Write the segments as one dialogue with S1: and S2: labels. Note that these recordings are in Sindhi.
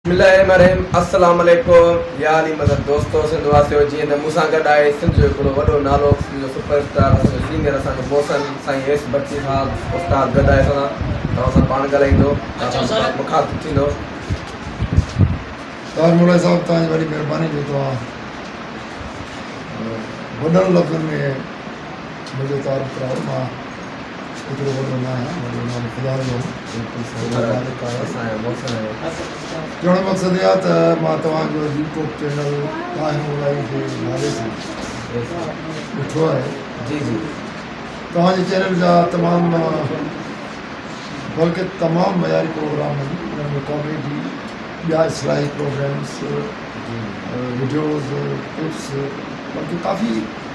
S1: بسم الله الرحمن الرحيم السلام عليڪم يا علي مدد دوستو سنڌ واسيو جيئن ته مون سان گڏ آهي سنڌ جو هڪڙو وڏو نالو سنڌ جو سپر اسٽار اسان جو سينئر اسان جو محسن سائين ايس بگٽي صاحب استاد گڏ آهي اسان سان توهان سان پاڻ ڳالهائيندو توهان سان مخاطب ٿيندو
S2: طاهر مولائي صاحب توهان جي وڏي مهرباني جو توهان وڏن لفظن ۾ منهنجو تعارف ڪرايو مان ايترو وڏو نه آهيان وڏو نه آهيان خدا جو هوم بلڪل سائين جو مالڪ آهيان چوڻ مقصد اهي آهي ته مان توهان جو يوٽيوب چينل طاهر مولائي جي نالي سان ڏٺو آهي جي جي
S1: توهان جي
S2: چينل جا تمام بلڪه تمام معياري پروگرام آهن انهن ۾ ڪاميڊي ٻيا اصلاحي پروگرامس وڊيوز ٽپس بلڪه ڪافي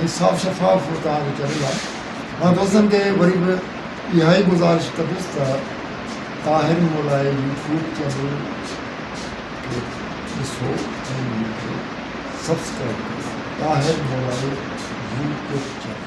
S2: ۽ صاف شفاف وقار جي ڪري لاء مان دوستن کي وري به اها ئي گذارش ڪندس ته طاهر مولائي يوٽيوب چينل کي ڏسو ۽ ان کي سبسڪرائيب ڪريو طاهر مولائي يوٽيوب چينل.